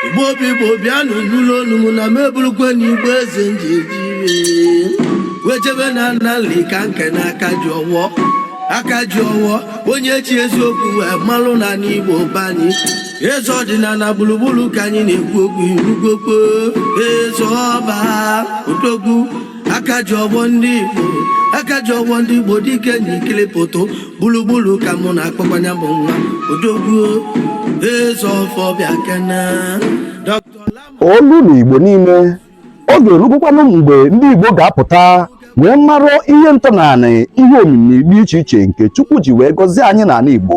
igbo obi igbo bịanụ nụlụ olu m na m eburukwe na igbo eze m ji eji ire wee jebe n'ana Nli ka m kene aka ji ọwọ aka ji ọwọ onye e ji eziokwu wee malụ na n'igbo bani eze ọdịnala gburugburu ka anyị na-ekwu okwu irugokpo eze ọba odogwu aka ji ọfọ ndị Igbo aka ji ọfọ ndị Igbo dike na ikele foto gburugburu ka mụ na-akpọkwa nya bụ nwa odogwu eze ọfọ bịa kene olu na Igbo niile oge erugokwanụ mgbe ndị Igbo ga-apụta wee mara ihe ntọnanị ihe omimi dị iche iche nke Chukwu ji wee gọzie anyị n'anị Igbo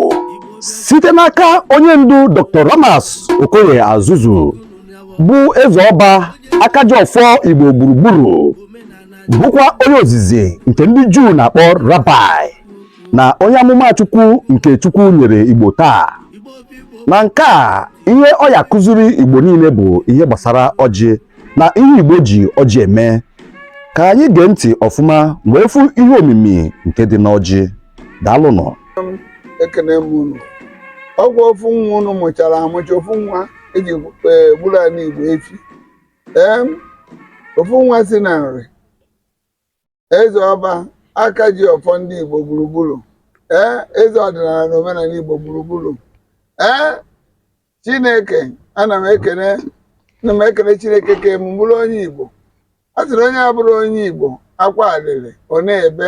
site n'aka onye ndu Dr. Ramas Okoye Asuzu bụ eze ọba akaji ọfọ igbo gburugburu bụkwa onye ozizi nke ndị juu na-akpọ rabai na onye amụma chukwu nke chukwu nyere igbo taa na nke a ihe ọ ya-akụziri igbo niile bụ ihe gbasara ọjị na ihe igbo ji ọjị eme ka anyị gee ntị ọfụma wee fụ ihe omimi nke dị n'ọjị daalụnụ ekene m unu ọ bụ ofu nwa unu mụchara amụcha ofu nwa eji gburu anị Igbo efi ee ofu nwa si na Nri eze ọba aka ji ọfọ ndị Igbo gburugburu ee eze ọdịnala na omenala Igbo gburugburu ee Chineke ana m ekene ana m ekene Chineke kee mụ bụrụ onye Igbo a sị na onye abụrọ onye Igbo akwa arịrị ọ na-ebe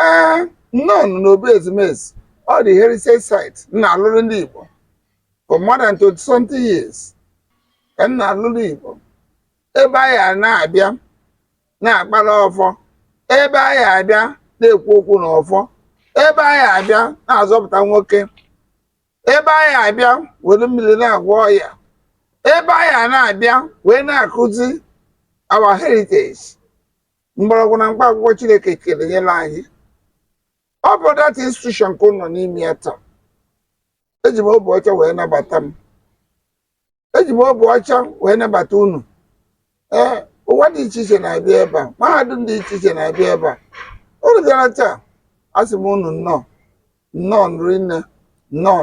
ee nnọọ n'obu ezumezu world heritage site m na-alụrụ ndị Igbo for more than 20 something years ka m na-alụrụ Igbo ebe a ga na-abịa na-akpara ọfọ ebe a ga-abịa na-ekwu okwu na ọfọ ebe a ga-abịa na-azọpụta nwoke ebe a ga-abịa were mmiri na-agwọ ọya ebe a ga na-abịa wee na-akụzi our heritage mgbọrọgwụ na mkpa akwụkwọ Chineke kere nyere anyị ọ bụ that institution ka unu nọ n'ime ya taa eji m obi ọcha wee nabata unu eji m obi ọcha wee nabata unu ee ụwa dị iche iche na-abịa ebe a mahadum dị iche iche na-abịa ebe a unu bịara taa asị m unu nnọọ nnọọ nri nne nnọọ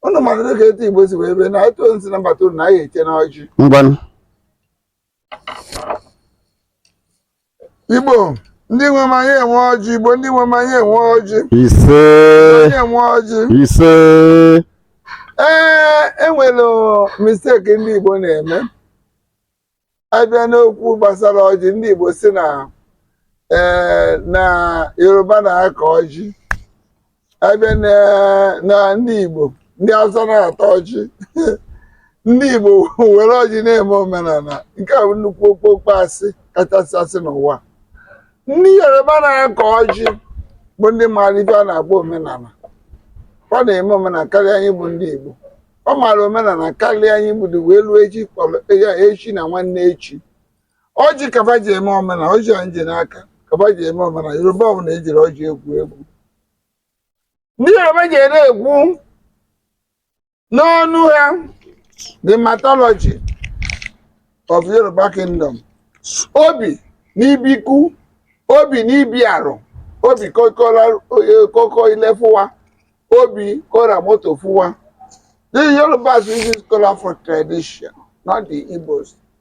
unu mara dịka etu igbo si wee bee na etu onye si nabata unu na anyị eche unu ọjị ngwanụ igbo ndị nwe m anyị enwe ọjị igbo ndị nwe m anyị enwe ọjị ise anyị enwe ọjị ise ee enwere mistake ndị igbo na-eme a bịa n'okwu gbasara ọjị ndị igbo sị na ee na yoruba na-akọ ọjị ebe na ndị Igbo ndị Hausa na-ata ọjị ndị Igbo were ọjị na-eme omenala nke a bụ nnukwu okpokpo asị kachasị asị n'ụwa ndị Yoruba na-akọ ọjị bụ ndị maara ife a na-agba omenala ọ na-eme omenala karịa anyị bụ ndị Igbo ọ maara omenala karịa anyị bido wee ruo echi kpọrọ ya echi na nwanne echi ọjị ka ba ji eme omena ọjị anyị ji n'aka ka ba ji eme omena yoruba ọ bụ na ejiri ọjị egwu egwu ndị yoruba ji ere egwu n'ọnụ ha the mythology of yoruba kingdom obi ni bi iku obi ni bi arun obi kokora koko ile fun wa obi ko ra moto fun wa the yorubas use kola for tradition not the igbos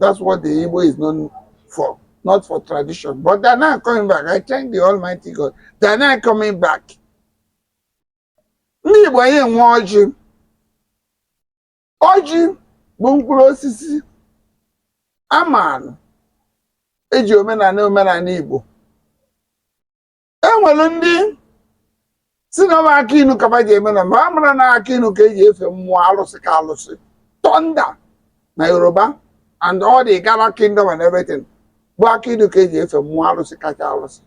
That's what the Igbo is known for, not for tradition. But they're now coming back. I thank the Almighty God. They're now coming back. Ndị Igbo anyị enwe ọjị. Ọjị bụ mkpụrụ osisi amaalụ eji eme n'omenala Igbo e nwere ndị sị na ọ bụ akị inu ka ba ji eme na ma a mara na akị inu ka eji efe mmụọ alụsị ka alụsị thunder na yoruba and all the igala kingdom and everything bụ akị inu ka eji efe mmụọ alụsị kacha alụsị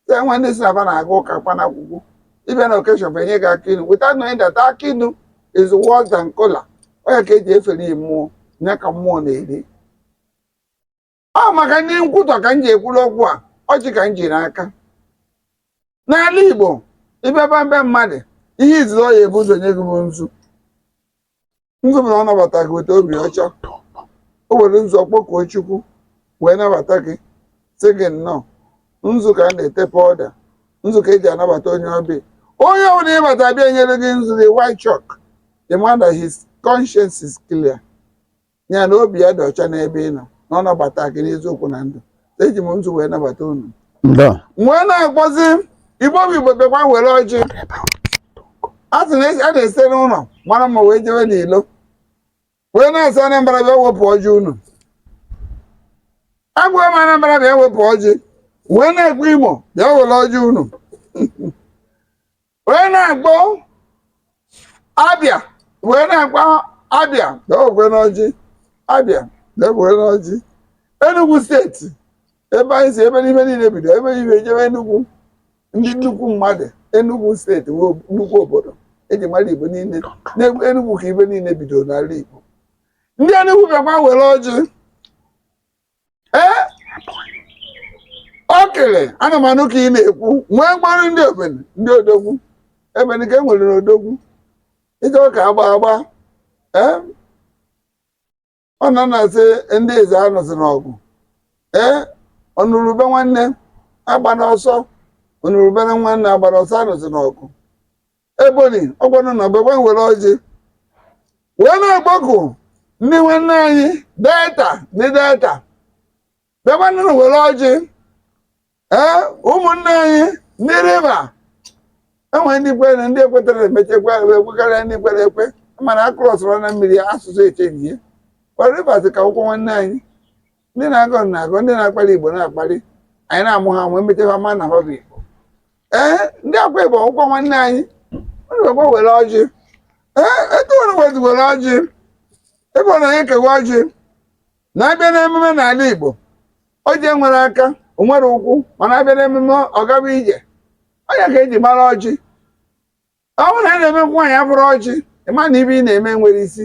e nwere ndị sị na ba na-aga ụka kpa na akwụkwọ ị bịa na occasion ba enye gị akị inu without knowing that akị inu is worse than kola ọ ya ka eji efere ya mmụọ ya ka mmụọ na-eri ọ maka ndị nkwutọ ka m ji ekwuru okwu a ọjị ka m ji n'aka n'ala Igbo ị bịaba na be mmadụ ihe izizi ọ ya ebu ụzọ nye gị bụ nzu nzu bụ na ọ nabata gị weta obi ọcha o were nzu ọ kpọkuo Chukwu wee nabata gị sị gị nnọọ nzu ka a na-ete pọda nzu ka eji anabata onye ọbịa onye ọbụla ị bata be ya nyere gị nzu the white chalk the man that his conscience is clear ya na obi ya dị ọcha n'ebe ị nọ na ọ nabata gị n'eziokwu na ndụ eji m nzu wee nabata unu Nnọọ. wee na-akpọzi igbo bụ igbo bịakwa were ọjị a sị na esi- a na-esi n'ụlọ mara mma wee jewe n'ilo wee na-asị anambra bịa wepụ ọjị unu agwa m anambra bịa wepụ ọjị wee na-akpọ imo bịa were ọjị unu wee na-akpọ abịa wee na-akpọ abịa dogwe n'ọjị abịa dogwe n'ọjị Enugu steeti ebe anyị si ebe ife niile bido ebe ibe ejebe Enugu ndị nnukwu mmadụ Enugu steeti bụ nnukwu obodo eji mara Igbo niile n'egwu Enugu ka ife niile bido n'ala Igbo ndị Enugu bịakwa were ọjị ee ọ kele ana m anụ ka ị na-ekwu wee kpọrọ ndị ebonyi ndị odogwu ebonyi ka e nwere n'odogwu ịchọ ka agba agba ee ọ na na-asị ndị ezza anụsị n'ọgụ ee ọ nụrụ ube nwanne agbana ọsọ ọ nụrụ ube na nwanne agbana ọsọ anụsị n'ọgụ Ebonyi ngwanụ nụ bịa were ọjị wee na-akpọku ndị nwanne anyị delta ndị delta bịakwanụ were ọjị ee ụmụnne anyị ndị riva enwere ndị kwere na ndị ekwetarọ emechekwa ekwekarịa ndị kwere ekwe mana a krọsụrụ na mmiri asụsụ echenji ya kwa rivers ka bụkwa nwanne anyị ndị na-agọ na-agọ ndị na-akpali igbo na-akpali anyị na-amụ ha amụ emecha ha ma na ha bụ igbo ee ndị akwa ibom bụkwa nwanne anyị unu ekwe were ọjị ee etu unu wezi were ọjị ebe ọ na onye kewa ọjị na-abịa n'emume n'ala igbo ọjị enwerọ aka o nwerọ ụkwụ mana abịa n'emume ọ gaba ije ọnya ka eji mara ọjị ọ bụrụ na a na-eme nwaanyị abụrụ ọjị ị ma na ife ị na-eme nwere isi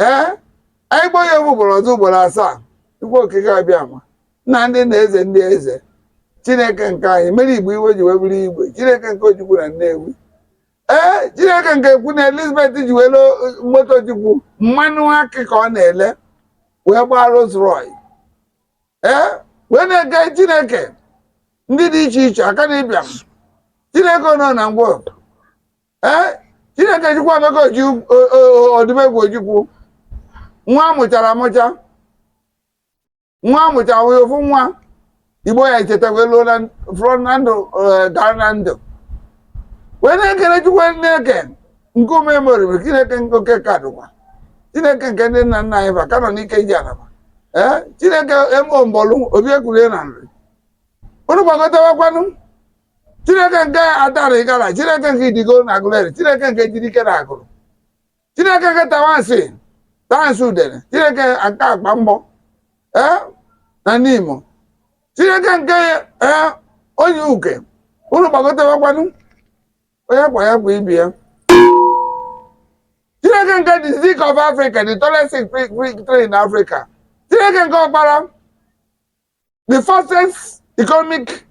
ee anyị kpọọ ya egwu ugboro ọzọ ugboro asaa chukwu okike abịama nna ndị nna eze ndị eze chineke nke anyị mere igbo iwe ji wee bụrụ igwe chineke nke ojukwu na nnewi ee chineke nke queen elizabeth ji wee loo moto ojukwu mmanụ akị ka ọ na-ele wee gbaa Rolls Royce ee wee na-ekele chineke ndị dị iche iche akanu ibiam chineke nọ na ngwa ee chineke chukwuemeka oju- odumegwu ojukwu nwa amụchara amụcha nwa amụchara nwunye ofu nwa igbo ya echetakwa elu na fụrụ na ndụ eh, gara na ndụ wee na-ekele chukwu chineke nke ume moriri chineke nke oke ka dụkwa chineke nke ndị nna nna anyị ba ka nọ n'ike ji anaba ee chineke emo mbọlụ obi ekwulie na nri unu gbagotewakwanụ chineke nke adara ịgara chineke nke idigo na agụleri chineke nke ejidike na agụrụ chineke nke tabansi tabansi udene chineke nke akpamgbo ee na nimo chineke nke ee onyiuke unu gbagotewekwanụ onye gwa ya gwa ibe ya chineke nke the zik of africa the tallest zik tree in africa chineke nke ọkpara the fastest economic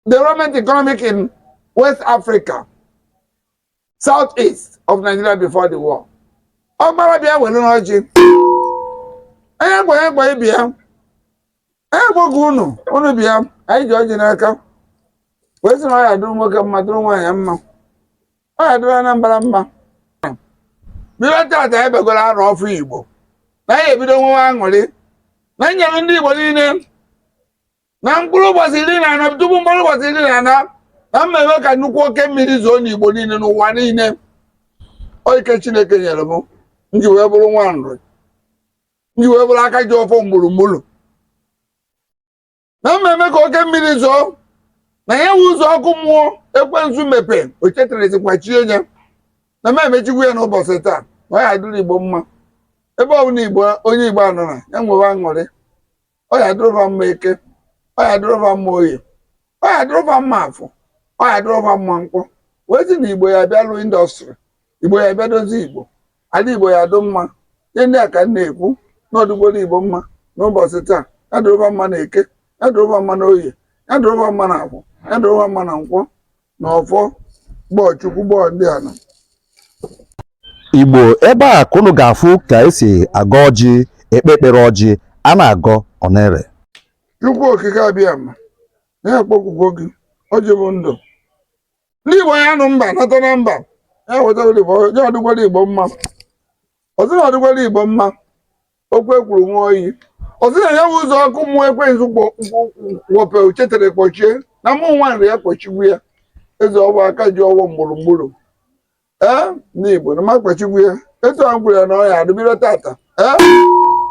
development economic in West Africa, southeast of Nigeria before the war. Ọkpara bịa werenụ ọjị. Onye gwa ya gwa ibe ya. Onye gwa gwa unu, unu bịa, anyị ji ọjị n'aka. Wee sị na ọ ya-adụrụ nwoke mma, dụrụ nwaanyị mma. ọ ga-adịrị Anambra mma bido tata ebegoro arụ ọfụ Igbo na ya ebido nwewe aṅụrị na nyere ndị Igbo niile na mkpụrụ ụbọchị iri na anọ tupu mkpụrụ ụbọchị iri na anọ na m mewe ka nnukwu oke mmiri zoo n'Igbo niile n'ụwa niile ọ ike Chineke nyere m m ji wee bụrụ nwa Nri m ji wee bụrụ aka ji ọfọ mgburugburu na m eme ka oke mmiri zoo na ya wụ ụzọ ọkụ mmụọ ekwensu mepe o chetarezikwa chie ya na m emechikwu ya n'ụbọchị taa na ọ ya dịrị igbo mma ebe ọ bụla igbo onye igbo nọ na ya nwewe aṅụrị ọ ya dịrị fa mma eke ọ ya dịrị fa mma oye ọ ya dịrị fa mma afọ ọ ya dịrị fa mma nkwọ wee sị na igbo ya bịa lụọ indọstrị igbo ya bịa dozie igbo Ala Igbo ya adụ mma. Ihe ndị a ka m na-ekwu na ọ dụgwara Igbo mma n'ụbọchị taa. Ya dịrị fa mma na Eke, ya dịrị fa mma na Oye, ya dịrị fa mma na Afọ, ya dịrị fa mma na Nkwọ na Ọfọ kpọọ Chukwu kpọọ ndị ala. Igbo ebe a ka unu ga-afụ ka esi agọ ọjị ekpe ekpere ọjị a na-agọ ọ na-ere Chukwu okike Abịama anyị akpọkugwo gị ọjị bụ ndụ ndị igbo ya nụ mba nata na mba ya wetara igbo ya ọ dụgwara igbo mma ọzọ na ọ dụgwara igbo mma okwu ekwuru nwa oyi ọzọ na ya bụ ụzọ ọkụ mmụọ ekwensu kpọpe o chetere kpọchie na mụ nwa nri ya akpọchikwu ya eze ọba aka ji ọfọ mgburugburu ee ndị Igbo na m akpọchikwu ya etu a m kwuru ya na ọ ya-adị bido tata ee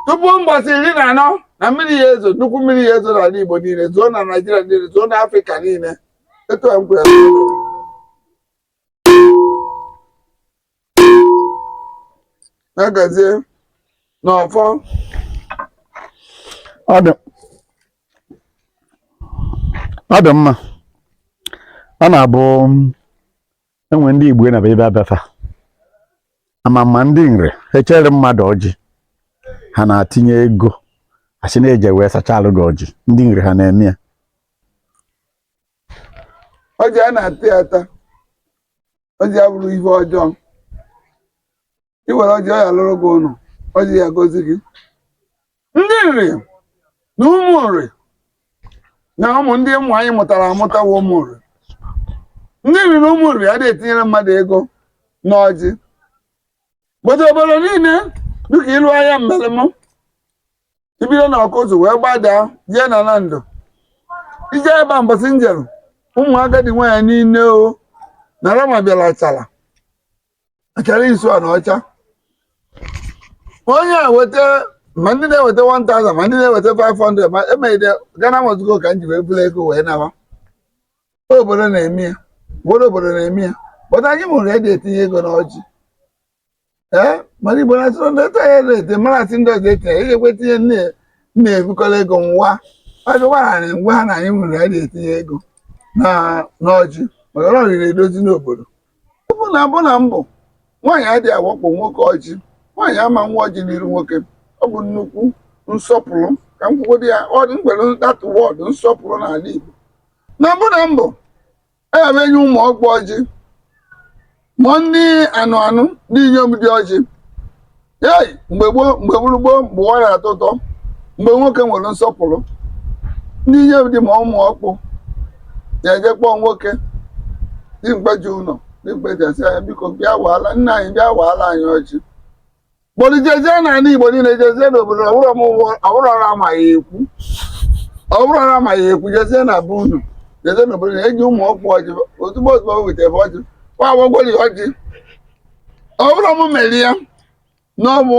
tupu mbọsị iri na anọ na mmiri ya ezo nnukwu mmiri ya ezo n'ala Igbo niile zoo na Naịjirịa niile zoo na Afrịka niile etu a m kwuru ya na-agazie n'ọfọ ọ dị mma ọ na-abụ enwe ndị igbo na ebe abafa ama ma ndị nri echere mmadụ ọjị ha na-atinye ego asị na eji wee sachaalụ gị ọjị ndị nri ha na-eme ya ọjị a na-ata ya ata ọjị abụrọ ihe ọjọọ i were ọjị ọ ya lụrụ gị ụlọ ọjị ya gọzie gị ndị nri na ụmụ nri na ụmụ ndị ụmụ anyị mụtara amụta bụ ụmụ nri ndị nri na ụmụ nri adịghị etinyere mmadụ ego na ọjị gbata obodo niile dịka ịlụ ahịa mmelem ibido na ọkụzụ wee gbadaa jee na nando ije ebe a mbọsị m jere ụmụ agadi nwaanyị niile o na rama bịara chara achara isu a na ọcha onye a weta ma ndị na-eweta 1000 ma ndị na-eweta 500 ma emegide ghana must go ka m ji wee buru ego wee nawa obodo na-eme ya ụfọdụ obodo na-eme ya but anyị ụmụ nri eji etinye ego n'ọjị ee mana igbo na-asịrị ndị ọta ya na-ete mara asị ndị ọzọ etinye ya ga-ekwe tinye nne na-ebukọrọ ego nwa agụwara na m gwa ha na anyị ụmụ nri eji etinye ego na n'ọjị maka na ọ nri edozi n'obodo ọ bụ na mbụ na mbụ nwaanyị adịghị awakpo nwoke ọjị nwaanyị ama awa ọjị n'iru nwoke ọ bụ nnukwu nsọpụrụ ka m kwugodo ya ọ dị mgbe enwere that word nsọpụrụ n'ala Igbo na mbụ na mbụ ebe enye ụmụ ọkpụ ọjị ma ndị anụ anụ ndị inyom di ọjị ei mgbe gboo mgbe gburu gboo mgbe ụwa na-atọ ụtọ mgbe nwoke nwere nsọpụrụ ndị inyom di ma ụmụ ọkpụ na-eje kpọọ nwoke dimkpa ji ụlọ dimkpa ji asị ya biko bịa waala nna anyị bịa waala anyị ọjị but jezie na ala igbo niile jezie n'obodo ọbụrọ mụwa ọbụrụ ọrụ amaghị ekwu ọbụrụ ọrụ amaghị ekwu jezie na be unu jezie n'obodo na eji ụmụ ọkpụ ọjị ozugbo ozugbo o wetara ọjị kwa agwagwori ọjị ọ bụrọ m mere ya na ọ bụ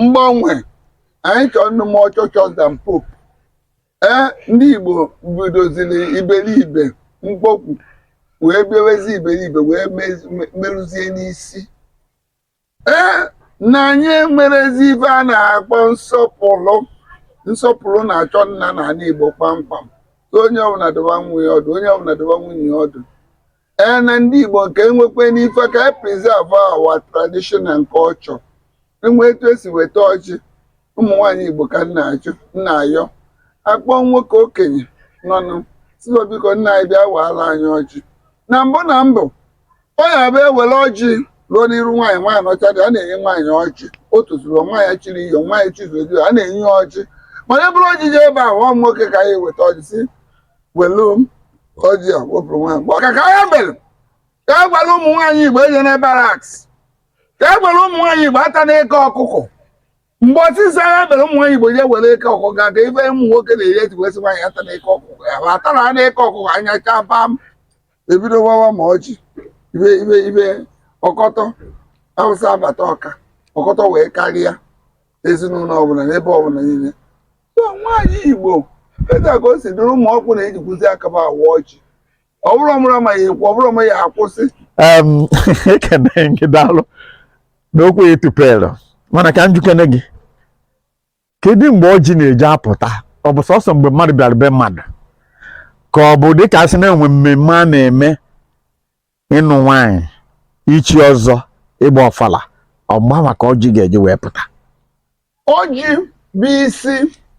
mgbanwe anyị chọrọ ịdị more churchous than pope ee ndị igbo bidoziri iberibe mkpokwu wee bịawezi iberibe wee mezi- me- merụzie n'isi ee na anyị enwerọzi ife a na-akpọ nsọpụrụ nsọpụrụ na-achọ ịna na ana igbo kpamkpam so onye ọbụna dụba nwa ya ọdụ onye ọbụna dụba nwunye ya ọdụ ee na ndị Igbo nke enwekwe n'ife ka e preserve our tradition and culture enwe etu esi eweta ọjị ụmụ nwaanyị Igbo ka m na-ajụ m na-ayọ akpọ nwoke okenye nọnụ sị ya biko nna anyị bịa waala anyị ọjị na mbụ na mbụ ọ ya-abụ ewere ọjị ruo n'iru nwaanyị nwaanyị nọcha di ya na-enye nwaanyị ọjị o tozuru nwaanyị chiri iyom nwaanyị chizuru a na-enye ya ọjị mana eburu ọjị je ebe a nwa nwoke ka anyị weta ọjị si welu ọjị a wepụrụ nwaanyị mgbe ọka ka ya mere ka e gwara ụmụ nwaanyị igbo ejena baraks ka e gwara ụmụ nwaanyị igbo atana eke ọkụkọ mgbe ọsịsa ya mere ụmụ nwaanyị igbo je were eke ọkụkọ ga ka ife ụmụ nwoke na-eri eji wee sị nwaanyị atana eke ọkụkọ ya ma atara ha n'eke ọkụkọ anya chaa pam ebido wawa ma ọjị ibe ibe ibe ọkọtọ awụsa abata ọka ọkọtọ wee karịa ezinụlọ ọbụla n'ebe ọbụla niile so nwaanyị igbo etu a ka o si dịrị ụmụ ọkpụ na-ejikwuzi aka abụọ awa ọjị ọ bụrụ ọmụrụ amaghị ekwu ọ bụrụ amaghị akwụsị Em, ekene m gị daalụ n'okwu i tupere mana ka m jụkene gị kedu mgbe ọjị na-eji apụta ọ bụ sọsọ mgbe mmadụ bịara be mmadụ ka ọ bụ dịka asị na-enwe mmemme a na-eme ịnụ nwaanyị ichi ọzọ ịgba ọfala ọgba maka ọjị ga-eji wee pụta ọjị bụ isi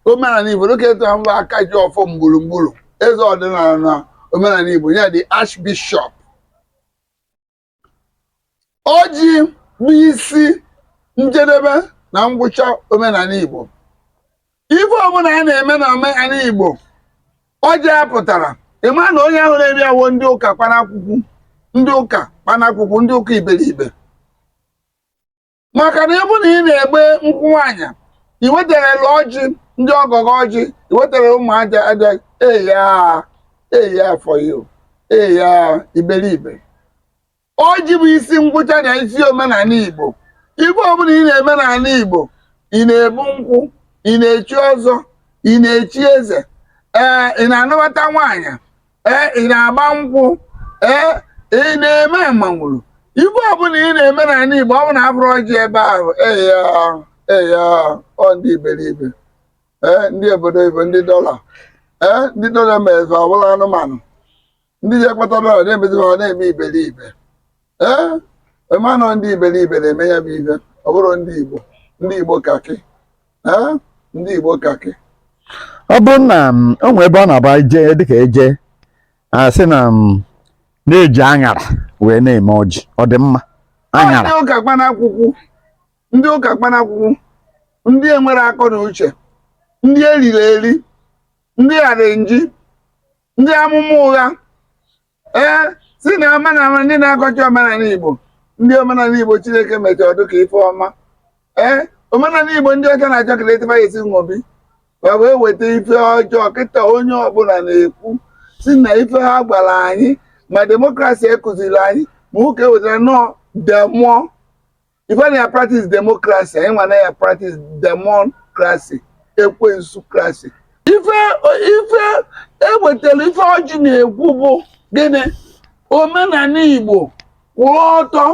omenala igbo dịka etu ha mba aka ji ọfọ mgburugburu eze ọdịnala na omenala igbo ya the archbishop ọjị bụ isi njedebe na ngwụcha omenala igbo ife ọbụla a na-eme na omenala Igbo ọjị apụtarọ ị ma na onye ahụ riri awọ ndị ụka kpanakwukwu ndị ụka kpanakwukwu ndị ụka iberibe maka na ịbụ na ị na-agba nkwụ nwaanyị i wetarọ ọjị ndị ọgọ gọọ ọjị i wetara ụmụ aja aja eya eya for you eya iberibe Ọjị bụ isi ngwụcha na isi omenala Igbo. Ife ọbụla ị na-eme n'ala Igbo, ị na-ebu nkwụ, ị na-echi ọzọ, ị na-echi eze, ee ị na-anụbata nwaanyị, ee ị na-agba nkwụ, ee ị na-eme mmanwụrụ. Ife ọbụla ị na-eme n'ala Igbo, ọ bụ na afụrọ ọjị ebe ahụ, eya eya ọ ndị iberibe, ee ndị obodo oyibo, ndị dọla, ee ndị dọla mezie ọ bụrụ anụmanụ. ndị je kpata dọla na-emezi ha ọ na-eme iberibe ee ị ma na ọ ndị iberibe na-eme ya bụ ife ọ bụrụ ndị igbo ndị igbo kakị ee ndị igbo kakị ọ bụrụ na m, o nwee ebe ọ na-abụ e jee dịka eje asị na m na-eji aṅara wee na-eme ọjị ọ dị mma aṅara ndị ụka kpanakwụkwụ ndị ụka kpanakwụkwụ ndị enwerọ akọ na uche ndị eriri eri ndị arrangee ndị amụma ụgha ee si na omenala ndị na-akọcha omenala Igbo ndị omenala Igbo Chineke mechara ọ dụ ka ife ọma ee omenala Igbo ndị ọcha na-achọ ka etịba ya esi wee bịa wee weta ife ọjọọ kịta onye ọbụla na-ekwu si na ife ha gwara anyị ma demokrasi ekụziri anyị ma ụka ewetara na ọ demon ife na ya practice democracy anyị nwa na ya practice democracy ekwensu krasi ife ife ewetara ife ọjị na-ekwu bụ gịnị omenani igbo kwụrụ ọtọ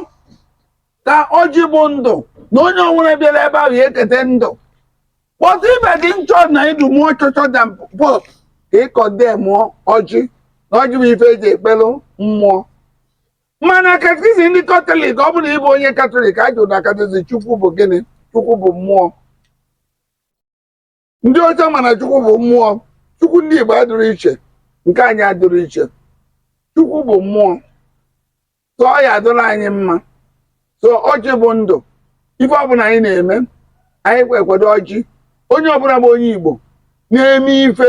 ka ọjị bụ ndụ na onye ọbụna bịara ebe ahụ ya ekete ndụ but ibe gị nchọ na ịdụ mụọ chọchọ da pọt ka ịkọde mụọ ọjị na ọjị bụ ife eji ekpelu mmụọ mana katikizim ndị katọlik ọ bụrụ na ị bụ onye katọlik a jụrụ na katikizim chukwu bụ gịnị chukwu bụ mmụọ ndị ọcha ma na chukwu bụ mmụọ chukwu ndị oyibo adịrọ iche nke anyị adịrọ iche chukwu bụ mmụọ ka ọ ya adịrị anyị mma so ọjị bụ ndụ ife ọbụla anyị na-eme anyị kwekwado ọjị onye ọbụla bụ onye igbo na-eme ife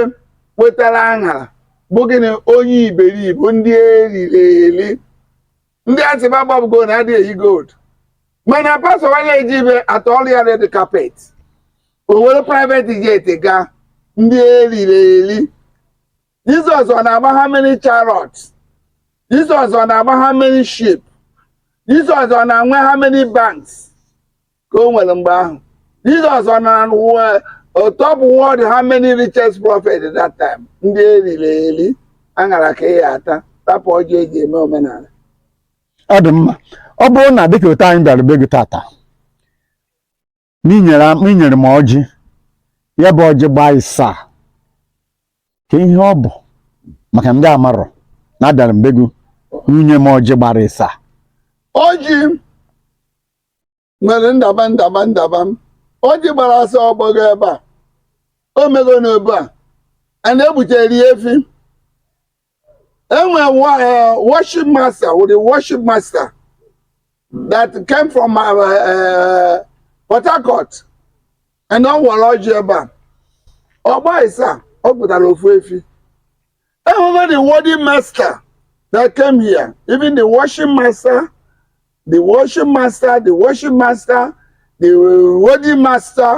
wetara aṅara bụ gịnị onye iberibe ndị eriri eri ndị asịba gbabago na a dịghị eyi gold mana pastọ wa ya eje ebe a tọọrọ ya red carpet o were private jet gaa ndị eriri eri Jizọs ọ na-agba how many chariots? Jizọs ọ na-agba how many ship? Jizọs ọ na-enwe how many banks ka o nwere mgbe ahụ? Jizọs ọ nọ na top world how many richest prophet that time ndị eriri eri aṅara ka ị ya ata rapụ ọjị eji eme omenala ọ dị mma ọ bụrụ na dịka otu anyị bịara be gị tata n'i nye m i nyere m ọjị ya bụ ọjị gbaa ịsaa ka ihe ọ bụ maka ndị amarọ na abịara m be gị unu nye m ọjị gbara ịsaa ọjị nwere ndaba ndaba ndaba m ọjị gbara asa ọ gbago ebe a o mego n'obi a a na-egbutere ya efi enwe worship master with the worship master that came from uh, uh, Port Harcourt and ọ nwere ọjị ebe a ọgba ịsa ọ pụtara ofu efi enwego the wedding master that came here even the worship master the worship master the worship master the wedding master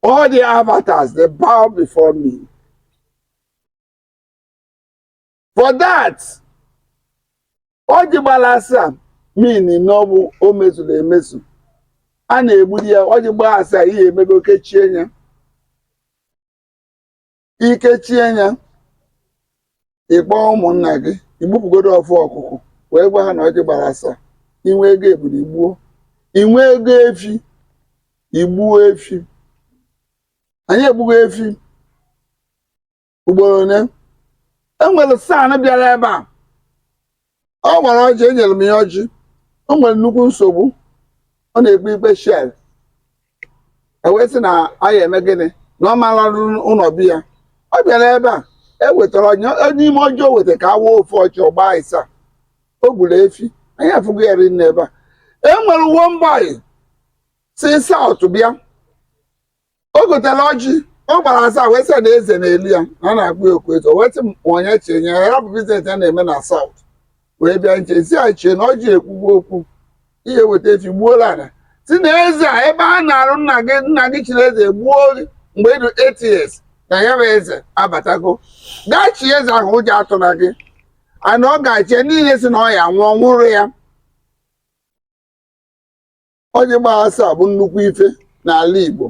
all the avatars they bow before me for that ọjị gbara asaa mean na ọ bụ o mezuru emezu a na-egbulu ya ọjị gbaa asaa ihe emego kechie ya i kechie ya ị kpọọ ụmụnna gị i gbupụgodo ofu ọkụkụ wee gwa ha na ọjị gbara asaa i nwee ego ebulu i gbuo i nwee ego efi i gbuo efi anyị egbugo efi ugboro ole e nwere san bịara ebe a ọ nwere ọjị enyere m ya ọjị o nwere nnukwu nsogbu ọ na-ekpe ikpe Shell e wee sị na anyị eme gịnị na ọ mara ụlọ bi ya ọ bịara ebe a e wetara ọjị n'ime ọjị o weta ka a waa ofu ọjị ọ gbaa ịsaa o gburu efi anyị afụgo ya rinne ebe a e nwere one boy si south bịa o gotere ọjị ọ gbara asaa wee sị na eze na-elu ya na a na-akpọ ya okwu eze o wee sị m onye chee nye ya ya bụ business ya na-eme na south wee bịa nche sị ya chee na ọjị ekwugo okwu ihe weta efi gbuoro ala sị na eze a ebe a nara nna gị nna gị chiri eze gbuo gị mgbe ị dụ eight years na ya bụ eze abatago gaa chie eze ahụ ụjọ atụla gị ana ọ ga-achị ya niile sị na ọ ya nwụọ nwụrụ ya ọjị gbaa asaa bụ nnukwu ife n'ala Igbo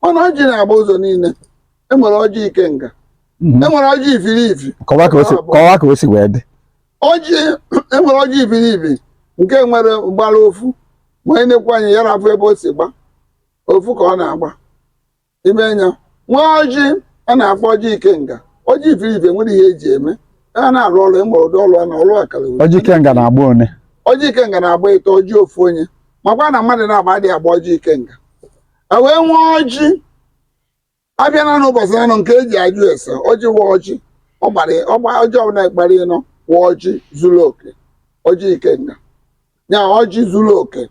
mana ọjị na-agba ụzọ niile enwere ọjị ikenga mhm. enwere ọjị ifiri ifi kọwa ka o si wee dị ọjị enwere ọjị ifiri ifi nke nwere gbara ofu ma i nenekwa anya ị ya na-afụ ebe o si gba ofu ka ọ na-agba ime anya e nwee ọjị a na-akpọ ọjị ikenga ọjị ifiri ifi nwere ihe eji eme a na-arụ ọrụ ịma ụdị ọrụ a na ọrụ akara uri. ọjị ikenga na-agba one ọjị ikenga na-agba ịtọ ọjị ofu onye makwa na mmadụ naabọ adịghị agba ọjị ikenga e wee nwee ọjị afịa naanọ ụbọchị anọ nke eji ajụ ese ọjị wa ọjị ọ gbara ọgba ọjị ọbụla gbara ịnọ wa ọjị zuru oke ọjị ikenga ya ọjị zuru oke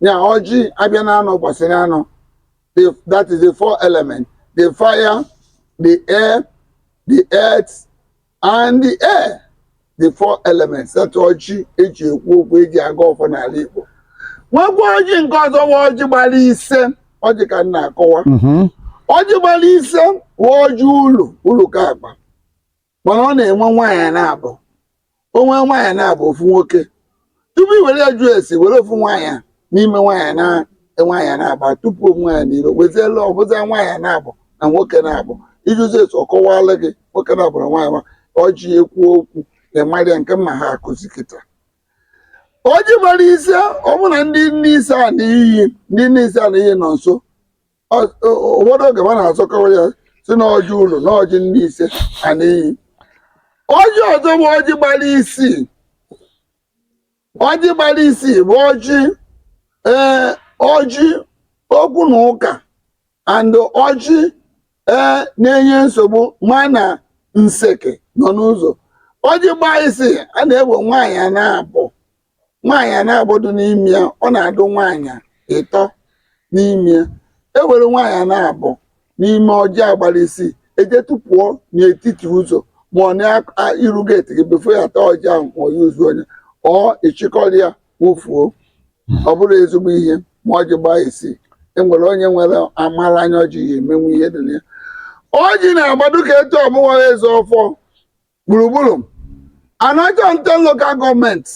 ya ọjị afịa naanọ mbọsị naanọ the, that is the four element the fire the air the earth and the air the four elements that ọjị eji ekwu okwu eji agọ ọfọ n'ala Igbo nwekwa ọjị nke ọzọ wa ọjị gbara ise ọjị ka m na-akọwa ọjị gbara ise wa ọjị uru uru ka akpa mana ọ na-enwe nwaanyị naabọ o nwee nwaanyị naabọ ofu nwoke tupu i were ya jụọ ese i were ofu nwaanyị a n'ime nwaanyị na nwaanyị naabọ tụpụ ofu nwaanyị n'iro wezielu ọ bụzie nwaanyị naabọ na nwoke naabọ i jụzie etu ọ kọwalụ gị nwoke naabọ na nwaanyị ma ọ ji ekwu okwu ịmarịa nke mma ha akụzi kịta ọjị gbara ise ọbụna ndị nne ise a na iyi ndị nne ise a na iyi nọ nso ụfọdụ oge ma na-azọkọwa ya sị na ọjị uru na ọjị ndị ise a n'iyi ọjị ọzọ bụ ọjị gbara isii ọjị gbara isii bụ ọjị ee ọjị okwu na ụka and ọjị ee na-enye nsogbu ma na nseke nọ n'ụzọ ọjị gbaa isii a na-enwe nwaanyị naabọ nwaanyị naabọ dụ n'ime ya ọ na-adụ nwaanyị ịtọ n'ime ya e were nwaanyị naabọ n'ime ọjị a gbara isii e jee tụpụọ n'etiti ụzọ ma ọ n'iru geeti gị before a taa ọjị ahụ ma ọ ya ozu onye ọ ị chịkọrọ ya wụfuo ọ bụrụ ezigbo ihe ma ọjị gbaa isii enwere onye nwere amara anya ọ ji ya emenwu ihe dị na ya ọjị na-agba dụ ka etu ọ mụwa eze ọfọ gburugburu Anaocha Nten Local Gọọmenti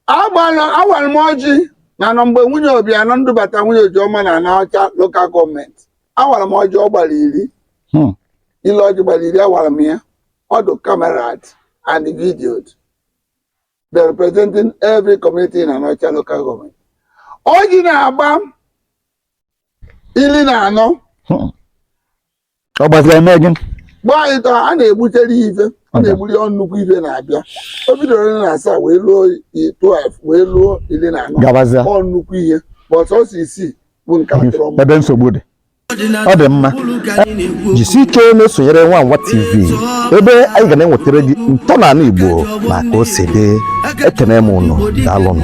agbara awara m ọjị na nọ mgbe nwunye Obianọ ndubata nwunye Ojiọma na Anaocha Local Gọọmenti awara m ọjị ọ gbara iri Hmm. ile ọjị gbara iri awara m ya ọ dụ cameraed and videoed the representing every community in Anaocha Local Gọọmenti ọjị na-agba iri na anọ Hmm. ọ gbaziri eme gị gbaa anyị tọ a na-egbutere ya ife a na-egburu ya nnukwu ife na-abịa o bidoro iri na asaa wee ruo i- 12 wee ruo iri na anọ gabazia ọ nnukwu ihe bọt ọ sọ isii bụ nke a tụrụ ọmụ ebe nsogbu dị ọ dị mma jisi ike na-esonyere nwa nwa tv ebe anyị ga na-enwetara gị ntọala igbo na ka o si dị ekene m ụnụ daalụnụ